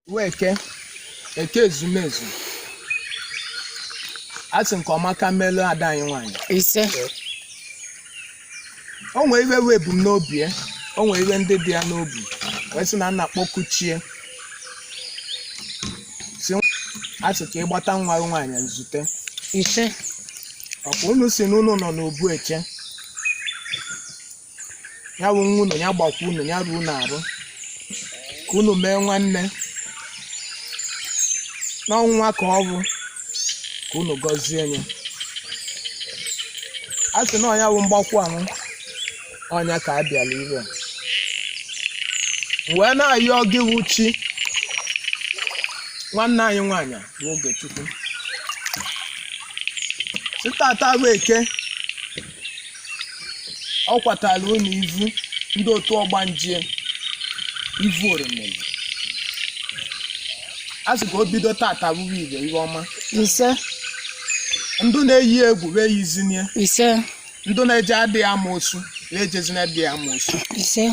Uwe eke eke ezumezu a sị nke ọma ka melụ ada anyị nwaanyị ise o nwere ive wee bụ ebumnobi ya o nwere ive ndị dị ya n'obi wee sị na ọ na-akpọku chi ya si a sị ka ị gbata nwa gị nwaanyị nzute ise ọkwa unu si na unu nọ n'obu eche ya bụ nwa unu ya gbakwu unu ya ruo unu arụ ka unu mee nwanne n'ọnwa ka ọ bụ ka unu gọzie ya a sị na ọ nya bụ mgbakwu ahụ ọ nya ka a bịara ire wee na-ayọ gị wụ chi nwanne anyị nwaanyị bụ Ogechukwu si tata bụ eke ọ kwatara unu ivu ndị otu ọgbanje ivu oromili a sị ka o bido tata bụrụ ive ọma ise ndị na-eyi ya egwu wa eyizina ya ise ndị na-eje adịghị amoosu wa ejezina adịghị amoosu ise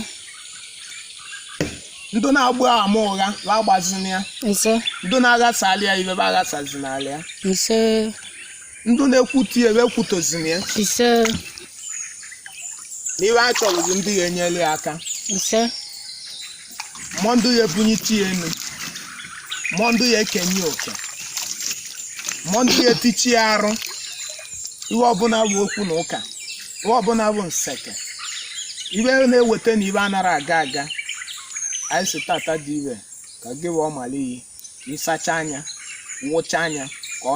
ndị na-agba ama ụgha wa agbazina ya ise ndị na-aghasalị ya ive wa aghasazinalị ya ise ndị na-ekwutọ ya wa ekwutọzina ya ise na ive a chọrọ bụ ndị ya enyere ya aka ise ma ọ ndị ya ebunyite ya enu ma ọ ndị ya ekenye ya oke ma ọ ndị ya etichi ya arụ ive ọbụna bụ okwu na ụka ive ọbụna bụ nseke ive na-eweta na ive anara aga aga anyị si tata dị ive ka gị wee ọmala iyi ịsacha nya wụcha nya ka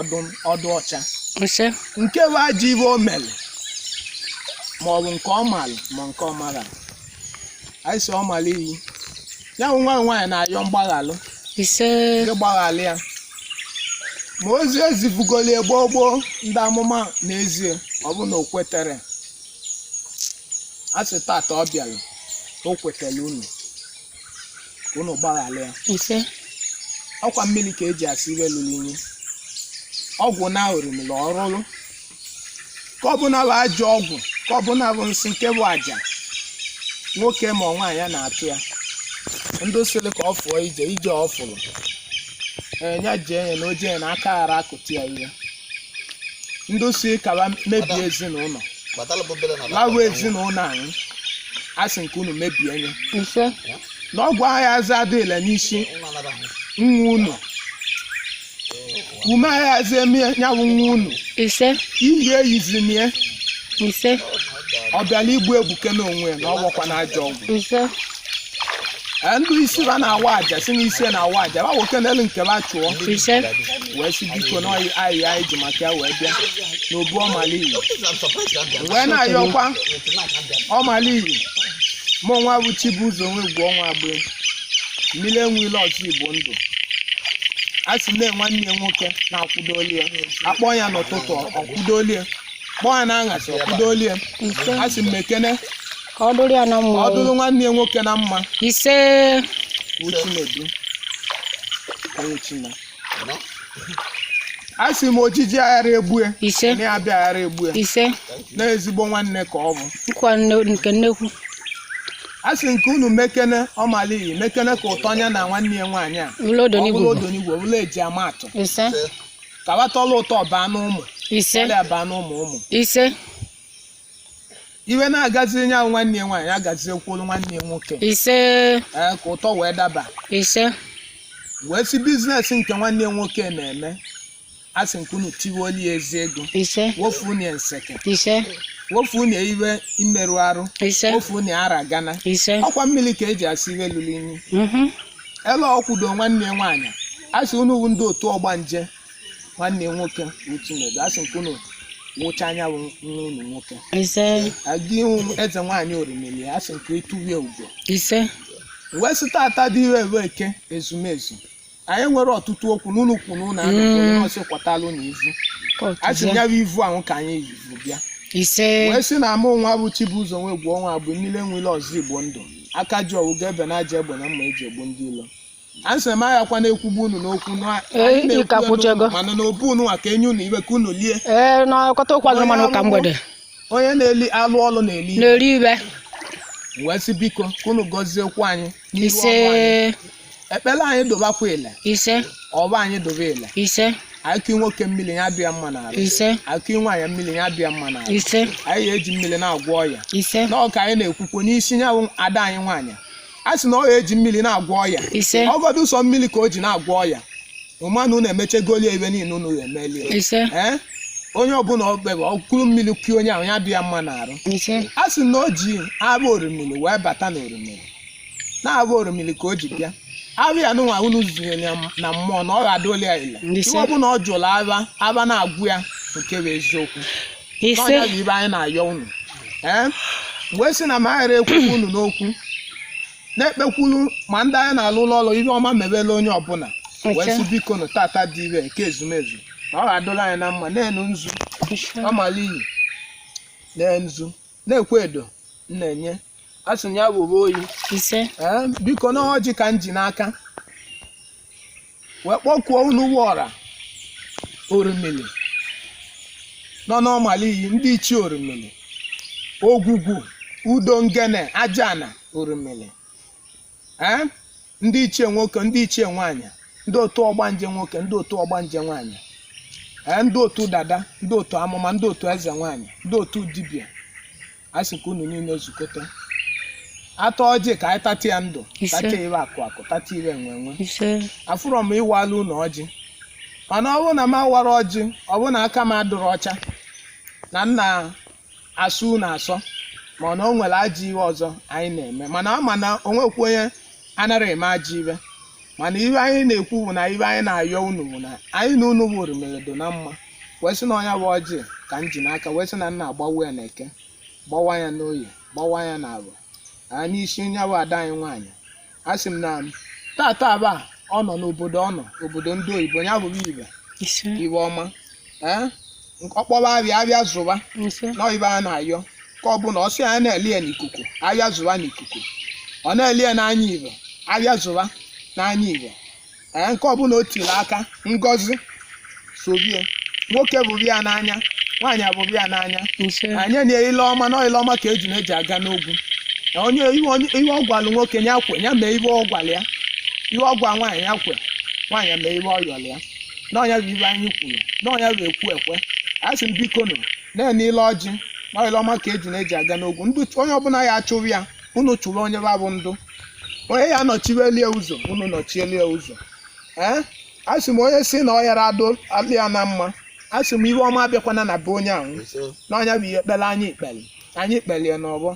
ọ dụ ọcha ise nke bụ ajọ ive o mere ma ọ bụ nke ọ malụ ma nke ọ mara anyị si ọmala iyi ya bụ nwa nwaanyị na-ayọ mgbaghalụ ise gị gbaghalụ ya ma ozi ezivugoli ya gboo gboo ndị amụma na-ezi ya ọ bụ na o kwetere a sị tata ọ bịara o kwetara unu ka unu gbaghara ya ise ọkwa mmiri ka eji asa ive lụlụ inyi ọgwụ na orimiri ọrụrụ nke ọbụna bụ ajọ ọgwụ nke ọbụna bụ nsị nke bụ aja nwoke ma ọ nwaanyị ya na-atụ ya ndị sịrị ka ọ fụọ ije ije ọ fụrụ ee ya jee ya na oje ya na aka ghara akụtụ ya ihe ndị si ka wa mebie ezinụlọ lawa ezinụlọ anyị a sị nke unu mebie nye ise na ọgwụ ayazị adịla n'isi nwa unu ume ayazị eme nya bụ nwa unu ise iyi eyizina ya ise ọ bịala igbu egbuke n'onwe ya na ọ gwakwa na ajọ ọgwụ ise Ee, ndị isi ba na-awa aja si n'isi na-awa aja ba nwoke n'elu nke ba chụọ ise wee sị biko na ọ ya anyị ji maka ya wee bịa n'obu ọmaliyi wee na-ayọkwa ọmaliyi mụ nwa bụ Chibuzo Nwegwu ọnwa bụ mmiri enwe ilo ọzọ Igbo ndụ a sị na nwanne ya nwoke na-akwụdoli ya a kpọọ ya n'ụtụtụ ọ kwụdoli ya kpọọ ya n'anyasị ọ kwụdoli ya a sị m mekene ka ọ dụrụ ya na mma ọ dụrụ nwanne ya nwoke na mma ise bụ Chinedu onye China a sị m ojije aghara egbu ya ise na ya bịa aghara egbu ya ise na ezigbo nwanne ka ọ bụ nkwa nne- nke nnekwu a sị nke unu mekene ọmaliyi mekene ka ụtọ ya na nwanne ya nwaanyị a ụlọ ọ bụrụ odonigbo odonigwe bụrụ e ji ama atụ ise ka ba tọla ụtọ baa n'ụmụ ise ọlịa baa n'ụmụ ụmụ ise ife na-agaziri ya nwanne ya nwaanyị agaziekwuolu nwanne ya nwoke ise ee ka ụtọ wee daba ise wee sị business nke nwanne ya nwoke na-eme a sị nke unu tiwoli ya ezi ego ise wofu unu ya nseke ise wofu unu ya ife mmerụ arụ ise wofu unu ya ara gana ise ọ kwa mmiri ka e ji asa ife lụrụ inyi mhm, ele ọ kwụdo nwanne ya nwaanyị a sị unu wu ndị otu ọgbanje nwanne ya nwoke bụ Chinedu a sị nke unu wụchaa ya bụ nwa unu nwoke ise aga ihu m eze nwaanyị orimili a sị nke i tuwe ya ugo ise wee sị tata dị ire ebe eke ezumezu anyị nwere ọtụtụ okwu n'ụlọ ukwu na ụlọ anụ Mm. onye ọsị kwọtalụ na ivu a sị ya bụ ivu ahụ ka anyị vu bịa ise wee sị na ọ mụ nwa bụ Chibụzọ Nwegwu ọnwa bụ mmiri enwe ilo ọzọ Igbo ndụ aka ji ọfọ ga ebe na aja egbe na mma e ji egbu ndị ilo anyị sị ma ya kwa na-ekwugbu unu n'okwu na- Ee, anyị na-ekwu ị ka ya kwụchego. n'okwu, mana n'obu unu a ka enye unu ife ka unu lie ee n'ọkọta ụkwa gị mana ụka mgbede onye na-eli alụ ọlụ na-eli ife. na-eri ife wee sị biko ka unu gọzie okwu anyị n'iru ise ọnụ anyị. ekpere anyị dụbakwa ile ise ọfọ anyị dụba ile ise a kụọ nwoke mmiri ya dị ya mma n'arụ ise a kụọ nwaanyị mmiri ya dị ya mma n'arụ ise anyị ga-eji mmiri na-agwọ ọya ise na ọ ka anyị na-ekwukwo n'isi ya bụ ada anyị nwaanyị a sị na ọ ga-eji mmiri na-agwọ ọya ise ọ gọdụ sọ mmiri ka o ji na-agwọ ọya mana unu emechegolie ife niile unu ya-emeli ya ise ee onye ọbụla okpebe ọ kụrụ mmiri kụọ onye ahụ ya dị ya mma n'arụ ise a sị na o ji abụ orimiri wee bata na orimiri na abụ orimiri ka o ji bịa abụ ya nụnwa unu zunyere ya na mmụọ na ọ ga-adụli ya ile ife ọbụla ọ jụrụ afa afa na-agwa ya nke bụ eziokwu ise n'ọ nya bụ ihe anyị na-ayọ unu ee wee sị na ma anyị ghara ekwukwu unu n'okwu na-ekpekwulu ma ndị anyị na-alụ ụlọ ọrụ ihe ọma mebela onye ọbụla wee sị biko nụ tata dị ire nke ezumezu na ọ ga-adụla anyị na mma nenụ nzu ọmala iyi nee nzu nekwa edo na-enye a sị na ya were oyi ise ee biko na ọjị ka m ji n'aka wee kpọkuo unu bụ ọra orimili nọ n'ọmala iyi ndị ichie orimili ogwugwu udo ngene ajana orimili ee ndị ichie nwoke ndị ichie nwaanyị ndị otu ọgbanje nwoke ndị otu ọgbanje nwaanyị ee ndị otu dada ndị otu amụma ndị otu eze nwaanyị ndị otu dibịa a sị ka unu niile zukọta atọ ọjị ka anyị tata ya ndụ Ise. tata ihe akụ akụ tata ihe enwe enwe ise afụrọ m ịwalụ unu ọjị mana ọ bụrụ na m awara ọjị ọ bụrụ na aka m adụrọ ọcha na m na-asọ unu asọ mana o nwere ajọ ihe ọzọ anyị na-eme mana ama na o nwekwa onye anaghị eme ajọ ihe mana ihe anyị na-ekwu bụ na ihe anyị na-ayọ unu bụ na anyị na unu wụ orimili dụ na mma wee sị na ọ nya bụ ọjị ka m ji n'aka wee sị na m na-agbawa ya na eke gbawa ya n'oye gbawa ya na afọ aa n'isi nya bụ ada anyị nwaanyị a sị m na tata aba ọ nọ n'obodo ọ nọ obodo ndị oyibo ya bụrụ ihe ise ihe ọma ee ọ kpọba ahịa ahịa zụba ise na ihe a na-ayọ ka ọ bụ na ọ sị ya na-ele ya n'ikuku ahịa zụba n'ikuku ọ na-ele ya n'anya ihe ahịa zụba n'anya ihe ee nke ọbụla o tiri aka ngọzi sobe ya nwoke hụrụ ya n'anya nwaanyị ahụrụ ya n'anya ise anyị na ile ọma na ile ọma ka ejuna ji aga n'ogwu Na onye ihe onye- ihe ọ gwalụ nwoke ya kwe ya mee ihe ọ gwara ya ihe ọ gwa nwaanyị ya kwe nwaanyị ya mee ihe ọ yọrọ ya na ọ nya bụ ihe anyị kwuru na ọ nya bụ ekwu ekwe a sị m biko nụ nenụ ile ọjị na ile ọma ka ejuna ji aga n'ogwu ndị onye ọbụla ya achụrụ ya unu chụrụ onye babụ ndụ onye ya nọchieli ya ụzọ unu nọchieli ya ụzọ ee a sị m onye sị na ọ yara adụlụ ya na mma a sị m ihe ọma abịakwana na be onye ahụ n'ọ nya bụ ihe ekpere anyị ekpere anyị kpelie n'ọgbọ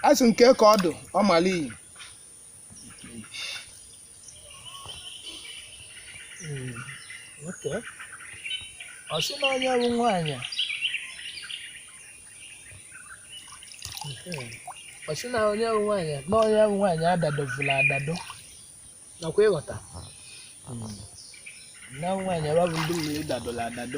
a sị nke ka ọ dụ ọmala iyi Hmm, ọ sị na nya bụ nwaanyị hmm, ọ sị na nya bụ nwaanyị na nya bụ nwaanyị adadovula adado nakwa ịghọta hmm. na nwaanyị ebe bụ ndị mmiri dadola adado